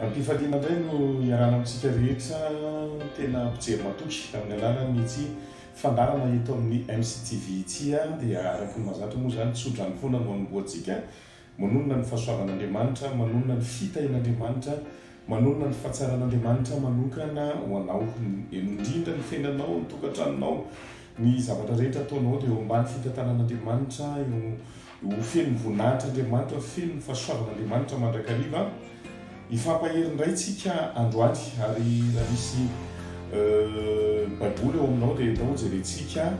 Ampifantina indray no iarahana amintsika rehetra tena mpijery matoky amin'ny alalan'ity fandaharana eto amin'ny MCTV ity dia araka ny mazatra moa izany tsodrano foana no anombohantsika Manonona ny fahasoavan'Andriamanitra, manonona ny fitahian'Andriamanitra, manonona ny fahatsaran'Andriamanitra manokana ho anao, indrindra ny fiainanao, ny tokantranonao, ny zavatra rehetra ataonao dia eo ambany fitantanan'Andriamanitra, eo, eo feno ny voninahitr'Andriamanitra, feno ny fahasoavan'Andriamanitra mandrakariva. Hifampahery indray tsika androany ary raha misy baiboly ao aminao dia enao jerentsika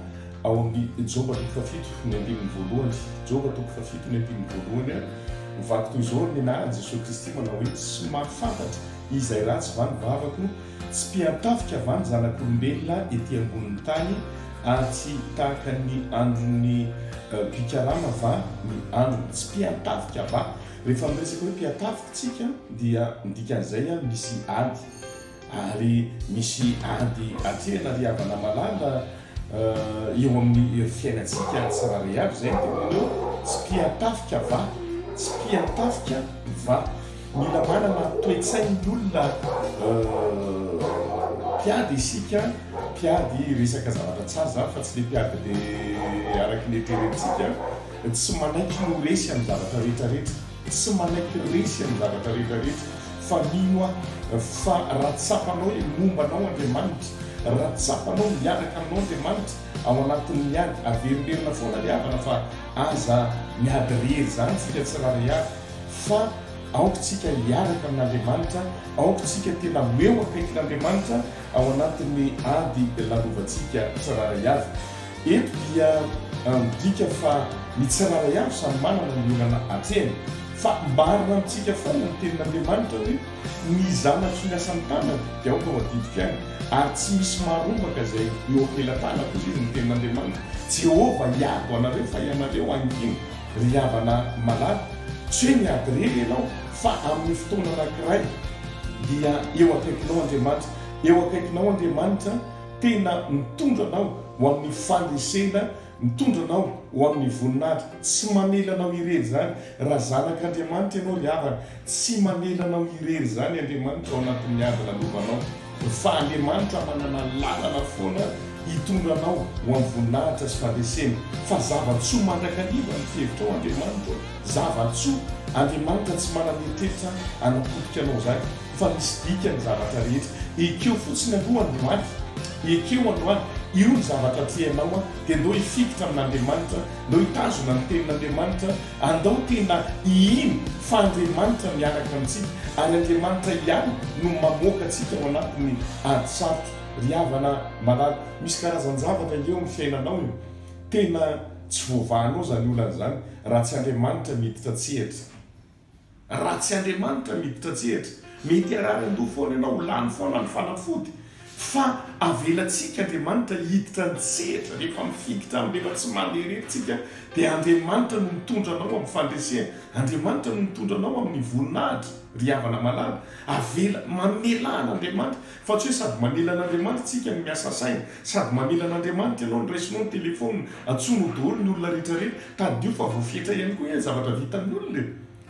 ao amin'ny Joba toko fahafito ny andininy voalohany. Joba toko fahafito ny andininy voalohany. Vaky toy izao ny anaran'i Jesoa Kristy manao hoe tsy mahafantatra izay ratsy va ny vavako, tsy mpiantafika va ny zanak'olombelona ety ambonin'ny tany ary tsy tahaka ny andron'ny mpikarama va ny androny, tsy mpiantafika va? Rehefa miresaka hoe mpiatavy tsika dia midika an'izay an, misy ady ary misy ady atrehina ry havana malala eo amin'ny fiainantsika tsirairay avy, izay no tena hoe tsy mpiatafika va? tsy mpiatafika va? Mila manana toe-tsain'ny olona mpiady isika, mpiady resaka zavatra tsara izany fa tsy le mpiady le araka ny eritreretintsika. Tsy manaiky ho resy amin'ny zavatra rehetra rehetra, tsy manaiky resy amin'ny zavatra rehetra rehetra, fa mino aho fa raha tsapanao hoe momba anao Andriamanitra, raha tsapanao miaraka aminao Andriamanitra ao anatin'ny ady, averiberina foana ny havana fa aza miady rery izany tsika tsirairay avy, fa aoka tsika hiaraka amin'Andriamanitra, aoka tsika tena ho eo akaikin'Andriamanitra ao anatin'ny ady lalovantsika tsirairay avy. Eto dia midika fa ny tsirairay avy samy manana ny olana atrehany. Fa marina amintsika foana ny tenin'Andriamanitra hoe, Ny zanatro ny asan'ny tanany dia aoka ho adidiko ihany, ary tsy misy marombaka izay eo am-pelatanako, hoy izy, ny tenin'Andriamanitra Jehovah hiady ho anareo, fa ianareo hangina, ry havana malala. Tsy hoe miady irery ianao, fa amin'ny fotoana anankiray dia eo akaikinao Andriamanitra. Eo akaikinao Andriamanitra. Tena mitondra anao ho amin'ny fandresena, mitondra anao ho amin'ny voninahitra. Tsy mamela anao irery izany. Raha zanak'Andriamanitra ianao ry havana, tsy mamela anao irery izany Andriamanitra ao anatin'ny ady nandovanao. Fa Andriamanitra manana lalana foana hitondra anao ho amin'ny voninahitra sy fandresena. Fa zava-tsoa mandrakariva ny fihevitrao Andriamanitra ô! Zava-tsoa! Andriamanitra tsy manana eritreritra hanapotika anao izany. fa misy dikany ny zavatra rehetra, ekeo fotsiny aloha androany, ekeo androany, io ny zavatra tianao an, dia ndao hifikitra amin'Andriamanitra, ndao hitazona ny Tenin'Andriamanitra, andao tena hihino fa Andriamanitra miaraka amintsika, ary Andriamanitra ihany no mamoaka antsika ao anatin'ny ady sarotra. Ry havana malala, misy karazan-javatra eo amin'ny fiainanao e, tena tsy voavahanao izany olana izany raha tsy Andriamanitra miditra an-tsehatra. Raha tsy Andriamanitra miditra an-tsehatra, mety harary an-doha foana ianao, ho lany foana ny fanafody. Fa avelantsika Andriamanitra hiditra an-tsehatra, rehefa mifikitra amin'ny lela tsy mandeha irery tsika, dia Andriamanitra no mitondra anao amin'ny fandresena, Andriamanitra no mitondra anao amin'ny voninahitra, ry havana malala. Avela, mamelà an'Andriamanitra. Fa tsy hoe sady mamela an'Andriamanitra isika no miasa saina, sady mamela an'Andriamanitra ianao no raisinao ny telefaonina, antsoinao daholo ny olona rehetra rehetra. Tadidio fa voafetra ihany koa anie ny zavatra vitan'ny olona e!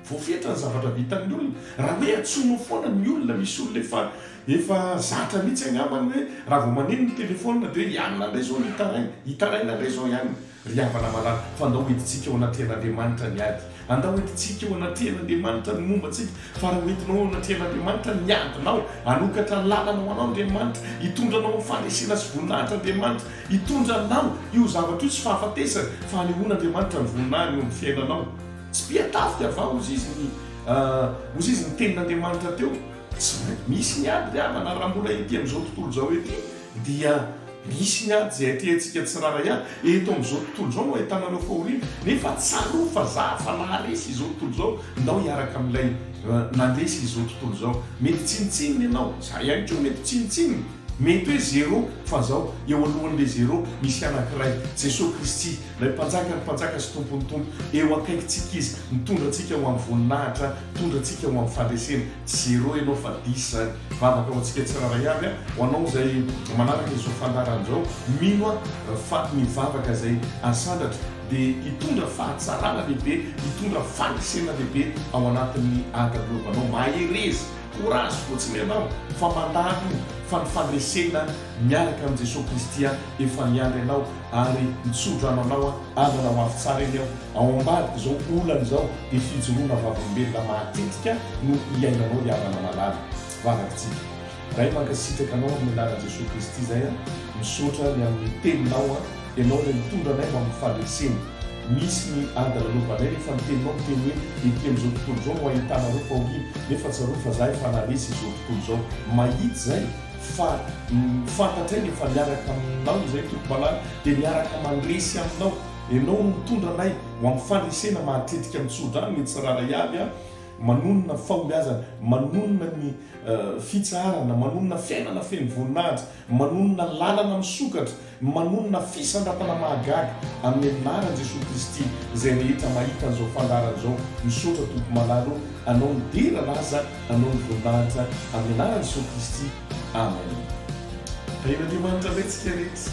Voafetra ny zavatra vitan'ny olona. Raha hoe antsoinao foana ny olona, misy olona efa, efa zatra mihitsy angambany hoe raha vao maneno ny telefaonina dia hoe i anona indray izao no hitaraina, hitaraina indray izao i anona. Ry havana malala, fa andao hoentintsika eo anatrehan'Andriamanitra ny ady. Andao hoentintsika eo anatrehan'Andriamanitra ny momba antsika, fa raha hoentinao eo anatrehan'Andriamanitra ny adinao, hanokatra ny lalana ho anao Andriamanitra, hitondra anao amin'ny faharesena sy voninahitra Andriamanitra, hitondra anao io zavatra io tsy fahafatesana, fa hanehoana Andriamanitra ny voninahiny eo amin'ny fiainanao. Tsy mpian-tafika va hozy izy ny, hozy izy ny tenin'Andriamanitra teo? Tsy maintsy misy ny ady ry havana, raha mbola ety amin'izao tontolo izao ety dia. Misy ny ady izay atrehantsika tsirairay avy eto amin'izao tontolo izao no ahitana anao fahoriana, nefa tsarovy fa za efa naharesy izao tontolo izao, ndao hiaraka amin'ilay nandresy izao tontolo izao. Mety tsinontsinona ianao, za ihany koa mety tsinontsinona, mety hoe zero, fa zao, eo alohan'ilay zero, misy anankiray, Jesoa Kristy, ilay Mpanjakan'ny mpanjaka sy Tompon'ny tompo, eo akaikintsika Izy, mitondra antsika ho amin'ny voninahitra Hitondra antsika ho amin'ny fandresena. Zéro ianao fa dix izany. Vavaka ho antsika tsirairay avy an. Ho anao izay manaraka izao fandaharana izao, mino aho fa ny vavaka izay asandratra dia hitondra fahatsarana lehibe, hitondra fandresena lehibe ao anatin'ny adabolovanao. Mahereza, courage fotsiny ianao fa mandalo io fa ny fandresena miaraka amin'i Jesoa Kristy an, efa miandry anao ary mitso-drano anao an, andrana ho avy tsara eny aho. Ao ambadik'izao olana izao dia fijoroana vavolombelona matetika no iainanao ry havana malala, vavakitsika. Ray mankasitraka anao amin'ny anaran'i Jesoa Kristy izay an! Misaotra ny amin'ny teninao an! Ianao ilay mitondra anay ho amin'ny fandresena. Misy ny ady lalovanay rehefa ny teninao miteny hoe ety amin'izao tontolo izao no ahitana an'ireo fahoriana nefa tsarovy fa za efa naharesy izao tontolo izao. Mahitsy izay fa fantatray ny efa niaraka aminao izay Tompo malala dia miaraka mandresy aminao. Ianao no mitondra anay ho amin'ny faharesena mahatetika ny tsodrano ny tsirairay avy a! Manonona ny fahombiazana, manonona ny fitsaharana, manonona fiainana feno voninahitra, manonona lalana misokatra, manonona fisandratana mahagaga amin'ny anaran'i Jesoa Kristy izay rehetra mahita an'izao fandaharana izao. Misaotra Tompo malala ô! Anao ny dera lasa, Anao ny voninahitra, amin'ny anaran'i Jesoa Kristy, Amen. Tahian'Andriamanitra indray tsika rehetra.